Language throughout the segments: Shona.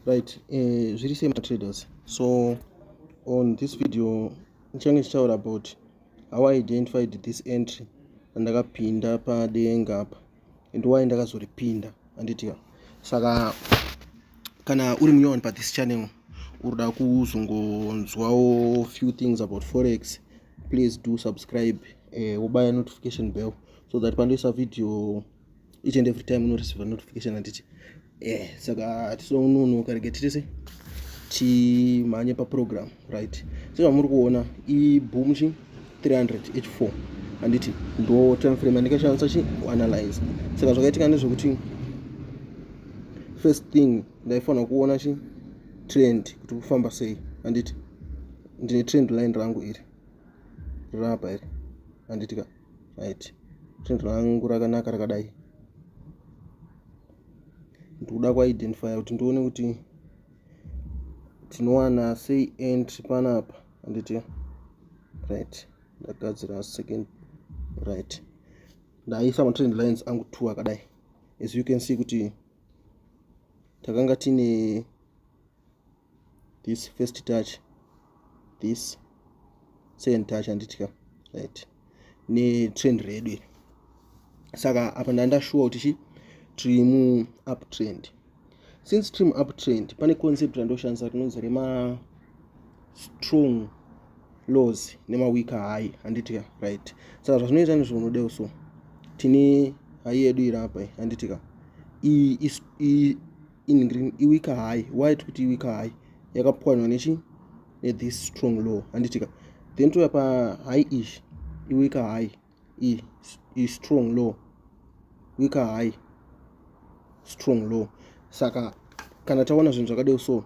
right eh, zviri sei matraders so on this video ndichange ndichitaura about how i identified this entry randakapinda padenga apa and why ndakazoripinda anditika saka kana uri munyowani pathis channel uruda kuzongonzwawo few things about forex please do subscribe eh, wobaya uh, notification bell so that pandoisa video each and every time unoreceiva notification handiti eh saka hatisononoka rege titise timhanye paprogram right sezvamuri kuona iboom chi 300 h4 handiti ndo time frame andikashandisa chi kuanalyze saka zvakaitika nezvekuti first thing ndaifanira kuona chi trend kuti kufamba sei handiti ndine trend line rangu iri rirapa iri handitika right print rangu rakanaka rakadai ndikuda kuidentifya kuti ndione kuti tinowana sei entry panapa anditi right ndagadzira second right ndaisa matrend lines angu two akadai as you can see kuti takanga tine this first touch this second touch anditika right netrend redu iri saka apa ndandashuwa kuti chi tiri mu up trend since trim up trend pane concept randoshandisa rinonzi rema strong laws nemaweak high handitika right saka zvazvinoita ndizvo unodeo so tine hai yedu iri apa handitika in green iwika high why tiri kuti iwika high yakapwanywa nechi nethis strong law handitika then touya pa high ish iwika high i, i strong law wika high strong law saka kana taona zvinhu zvakadeo so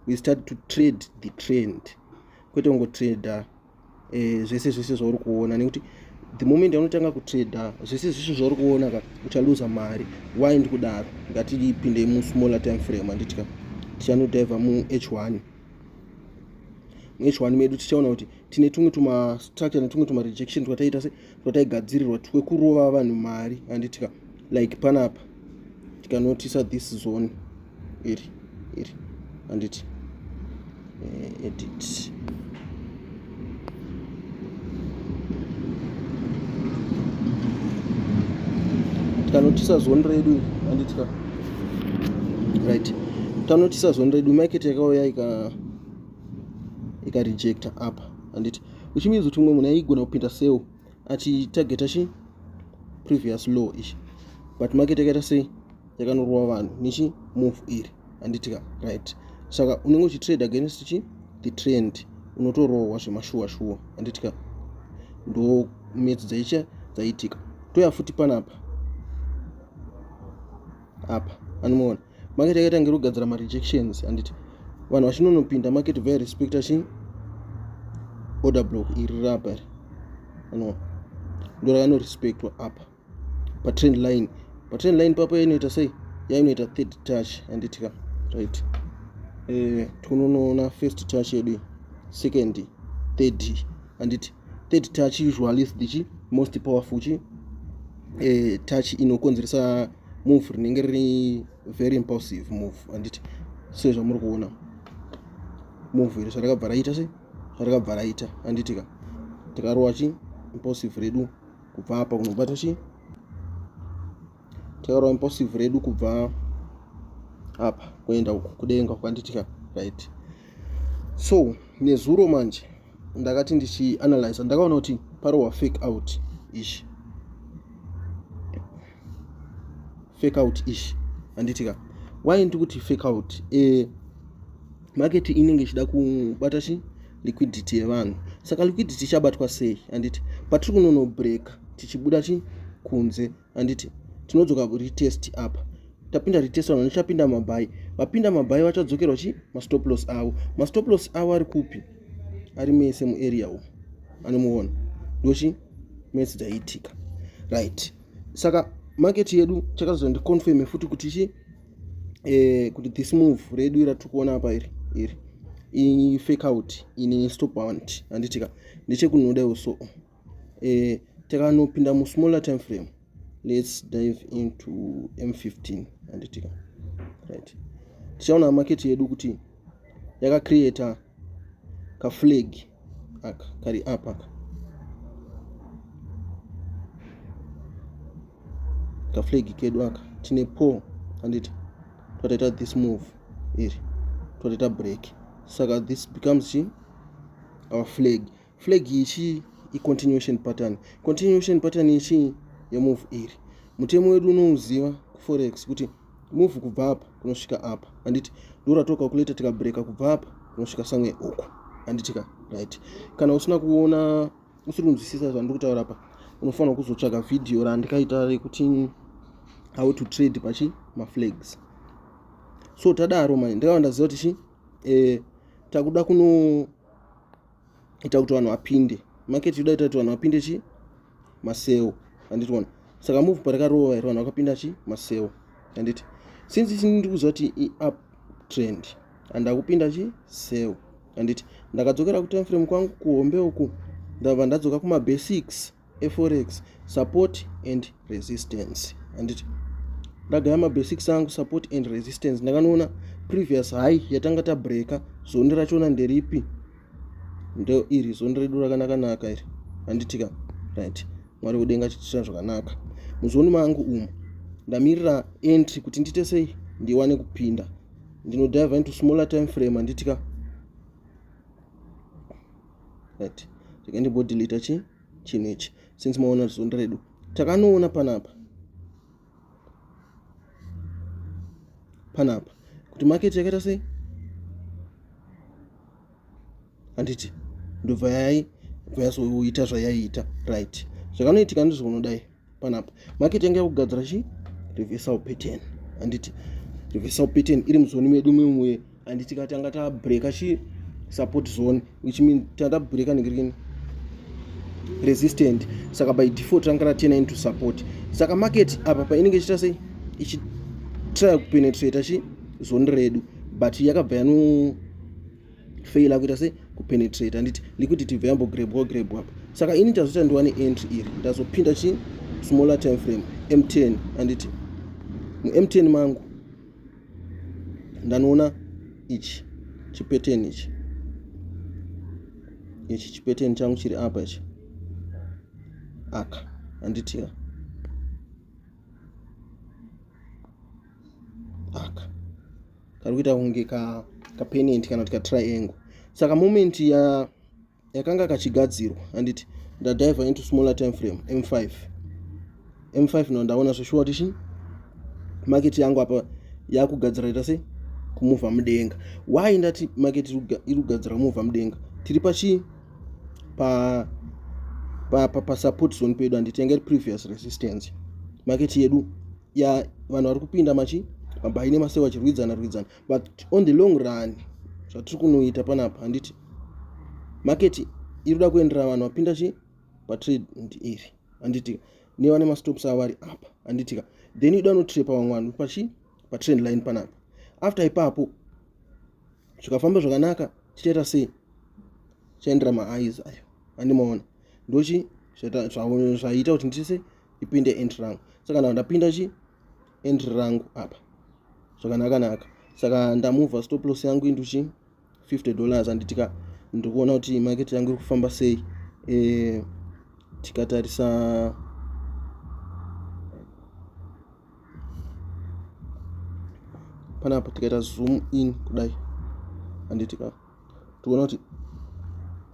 we start to trade the trend kwete kungotrader eh, zvese zvese zvauri kuona nekuti the moment anotanga kutrader zvese zvese zvauri kuona ka uchaluza mari why ndikudaro ngatipindei musmaller time frame handiti ka tichanodhivha muh one muh one medu tichaona kuti tine tumwe tumastructure netumwe tumarejection twataiita se twataigadzirirwa twekurova vanhu mari handiti ka like panapa tikanotisa this zone iri iri handiti eh, edit tikanotisa zone redu handitika right tanotisa zone redu market yakauya ika ikarejecta apa handiti which means kuti umwe munhu aigona kupinda seo achitargeta chi previous law ichi but market yakaita sei yakanorova vanhu nechi move iri handitika right saka unenge uchitrade against chi the trend unotorohwa zvemashuwa shuwa handitika ndo metsi dzaicha dzaitika toya futi panapa apa anomuona market yakaita ngiri kugadzira marejections handiti vanhu vachinonopinda market vaya respecta chi order block iri rapa ri anoa ndo rakanorespectwa apa patrend line patrend line papo yainoita sei yainoita third touch handiti ka right eh, tinonoona first touch yedu second third handiti third touch usually is the chi most powerful chi eh, touch inokonzeresa move rinenge riri very impulsive move handiti sezvamuri kuona move iri zvarakabva raita se zvarakabva raita handiti ka tikarowa chi impulsive redu kubva apa kunobata chi tikarowa impulsive redu kubva apa kuenda kudenga kwanditi ka right so nezuro manje ndakati ndichianalyza ndakaona kuti parowa fake out ishi fake out ish handiti ka why ndiri kuti fake out e, market inenge ichida kubata chi liquidity yevanhu saka liquidity ichabatwa sei handiti patiri kunonobreaka tichibuda chi kunze handiti tinodzoka retest apa tapinda retest vanhu vachapinda mabhai vapinda mabhai vachadzokerwa chi mastop loss avo mastop loss avo ari kupi ari mese muarea umo anomuona ndochi mese dzaiitika right saka market yedu chakazondiconfirme futi kuti chi eh, kuti this move redu ira tiri kuona apa iri iri ifake out ini stop want handitika ndechekunodawo so eh, takanopinda musmaller time frame let's dive into m15 handitika right tichaona market yedu kuti yakacreata kaflag aka kari apa ka kaflegi kedu aka tine po anditi twataita this move iri twataita break saka this becomes chi our flag flag ichi icontinuation pattern continuation pattern ichi yemove iri mutemo wedu unouziva kuforex kuti move kubva apa kunosvika apa handiti ndoratokakuleta tikabreka kubva apa kunosvika somewhere uku handiti ka right kana usina kuona usiri kunzwisisa zvandiri kutaura apa unofanira kuzotsvaga vhidhiyo randikaita rekuti how to trade pachi maflags so tadaro mai ndakava ndaziva kuti chi eh, takuda kuno ita kuti vanhu vapinde market yoda ita kuti vanhu vapinde chi maseo handiti wona saka move parikarova here vanhu vakapinda chi maseo handiti since isini ndiri kuziva kuti iup trend andakupinda chi seo handiti ndakadzokera kutime frame kwangu kuhombe uku ndabva ndadzoka kumabasics eforex support and resistance handiti ndagaya mabasics angu support and resistance ndakanoona previous high yatanga tabreaka zondi rachona nderipi ndo iri zondi redu rakanakanaka iri handitika right mwari kudenga chitisira zvakanaka muzondi mangu umu ndamirira entry kuti ndiite sei ndiwane kupinda ndinodive into smaller time frame handitika right rega ndimbodeleta chi chinhu ichi since maona zunda redu takanoona panapa panapa kuti market yakaita sei handiti ndobva yai bva yasoita zvayaiita right zvakanoitika ndizvo unodai panapa market yanga yakugadzira chi reversal pattern handiti reversal pattern iri muzoni medu mimwe handiti ka tanga tabreaka chi support zone which mean tanga tabreaka nekirini resistant saka by default ranga ratena into support saka market apa painenge ichiita sei ichitry kupenetrata chi zoni redu but yakabva yano fail akuita se kupenetrate handiti liquidity ibva yambogrebwa grebwa apa saka ini ndazoita ndiwane entry iri ndazopinda chii smaller time frame m10 handiti mum10 mangu ndanoona ichi chipeteni ichi ichi chipeteni changu chiri apa ichi aka handitiya aka kari kuita kunge ka kapenent kana kuti katriangle saka moment ya yakanga kachigadzirwa handiti ndadiver into smaller time frame m5 m5 no ndaona zveshuwa kuti chii maketi yangu apa yakugadzira ita sei kumuvha mudenga why ndati maketi iri kugadzira kumuvha mudenga tiri pachii pa pasupport zone pedu handiti yanga iri previous resistance maketi yedu ya vanhu vari kupinda machi mabayi nemaseu vachirwidzana rwidzana but on the long run zvatiri kunoita panapa handiti maketi iri kuda kuendera vanhu vapinda chi patrade ndi iri handitika nevane mastops avo vari apa handitika then ida unotrepa vamwe vanhu pachi patrend line panapa after ipapo zvikafamba zvakanaka tichaita sei chaendera maaiz ayo andimaona ndochi zvaita kuti ndise ipinde entry rangu so kana ndapinda chi entry rangu apa zvakanaka naka saka ndamuvha stop loss yangu into chi 50 dollars anditika ndiri kuona kuti market yangu iri kufamba sei eh, tikatarisa panapa tikaita zoom in kudai anditika toona kuti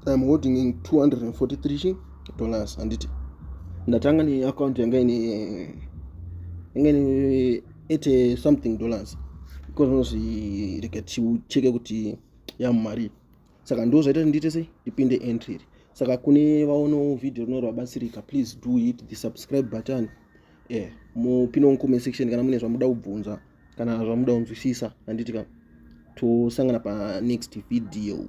iam holding in 243 dollars handiti ndatanga neaccount yanga ine yanga ine 80 something dollars because unozvi rega ticheke kuti yamumari saka ndo zvaita ndiite sei ndipinde entry iri saka kune vaonawo vhidhio rino rwabatsirika please do hit the subscribe button e eh, mupinoncome section kana mune zvamuda kubvunza kana zvamuda kunzwisisa handiti ka tosangana panext video